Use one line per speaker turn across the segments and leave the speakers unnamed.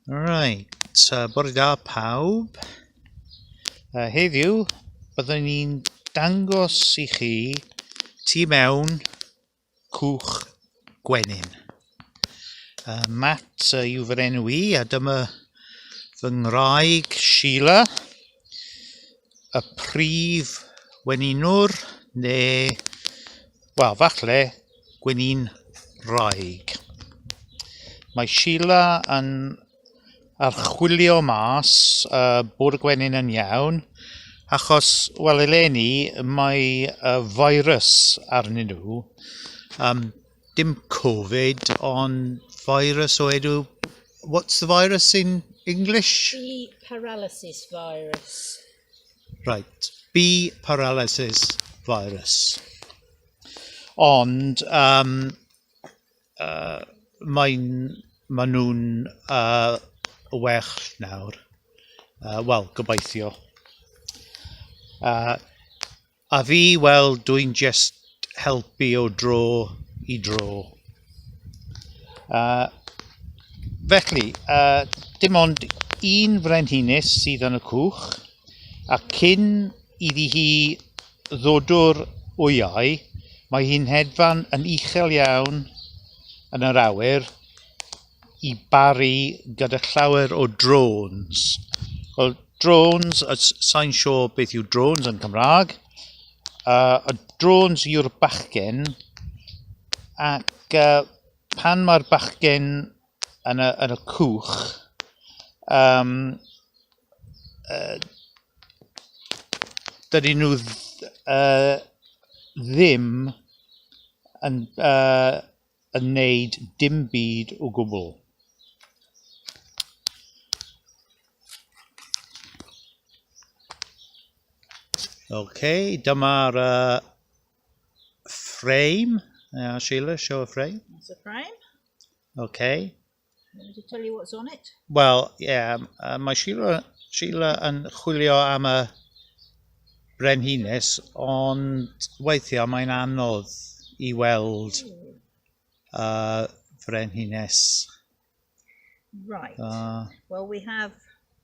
Right, uh, bore da pawb. Uh, heddiw, byddwn ni'n dangos i chi tu mewn cwch gwenyn. Uh, Matt uh, yw fy enw i, a dyma fy ngwraig Sheila. y prif weninwr neu, wel, falle gwenin wraig. Mae Sheila yn archwilio mas y uh, bod y gwenyn yn iawn, achos, wel, eleni, mae y uh, virus arnyn nhw. Um, Dim covid ond virus o enw... what's the virus in English? Bee paralysis
virus. Right,
bee paralysis virus. Ond yym yy mae'n... maen nhw'n yy well nawr. Wel, gobeithio. Yy A fi, wel, dwi'n jest helpu o dro i dro. A felly, a, dim ond un frenhines sydd yn y cwch, a cyn iddi hi ddodwr wyau, mae hi'n hedfan yn uchel iawn yn yr awyr, i baru gyda llawer o drones. Wel, drones, sa'n siŵr beth yw drones yn Cymraeg. Uh, y drones yw'r bachgen, ac uh, pan mae'r bachgen yn y, yn y cwch, um, uh, dydyn nhw uh, ddim yn uh, yn wneud dim byd o gwbl. Okay, dyma'r uh, frame. Yeah, Sheila, show a frame. That's a frame.
Okay.
Did
it tell you what's on it? Wel, ie, yeah, uh,
mae Sheila, Sheila yn chwilio am y brenhines, ond weithiau mae'n anodd i weld uh, frenhines.
Right. Uh, well, we have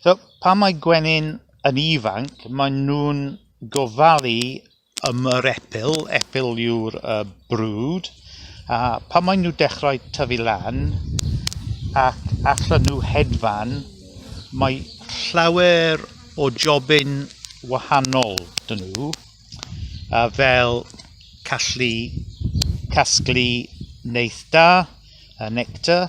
So, pan mae gwenyn yn ifanc, maen nhw'n gofalu am yr epil, epil yw'r uh, brwd, a pan maen nhw dechrau tyfu lan ac allan nhw hedfan, mae llawer o jobyn wahanol dyn nhw, a fel callu casglu neith da, a nectar,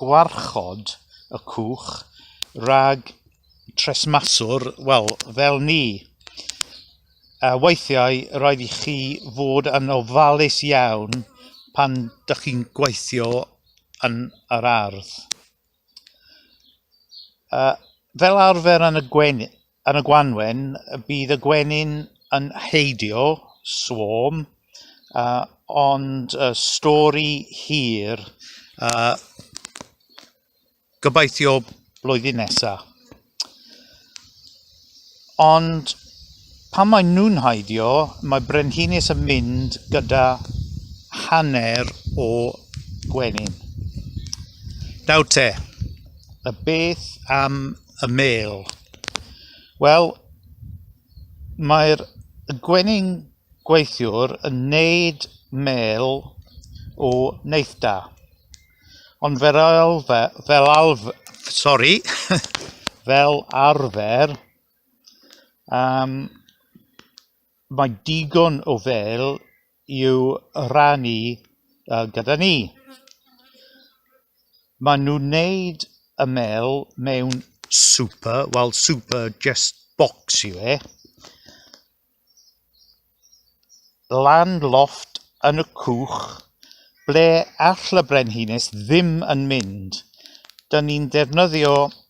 gwarchod y cwch rhag tresmaswr, wel, fel ni, a weithiau rhaid i chi fod yn ofalus iawn pan dych chi'n gweithio yn yr ardd, fel arfer yn y gwen- Yn y gwanwyn, bydd y gwenyn yn heidio, swarm, ond stori hir, gobeithio blwyddyn nesa. Ond pan maen nhw'n heidio, mae Brenhines yn mynd gyda hanner o gwenyn. Nawr te, y beth am y mêl. Wel, mae'r gwenyn gweithiwr yn wneud mêl o neithdda. Ond fel arfer, fel arfer, sori, fel arfer, um, Mae digon o fêl i'w rhannu gyda ni. Maen nhw'n wneud y mêl mewn super, wel super just bocs yw e, lan lofft yn y cwch ble all y brenhines ddim yn mynd. Dyn ni'n defnyddio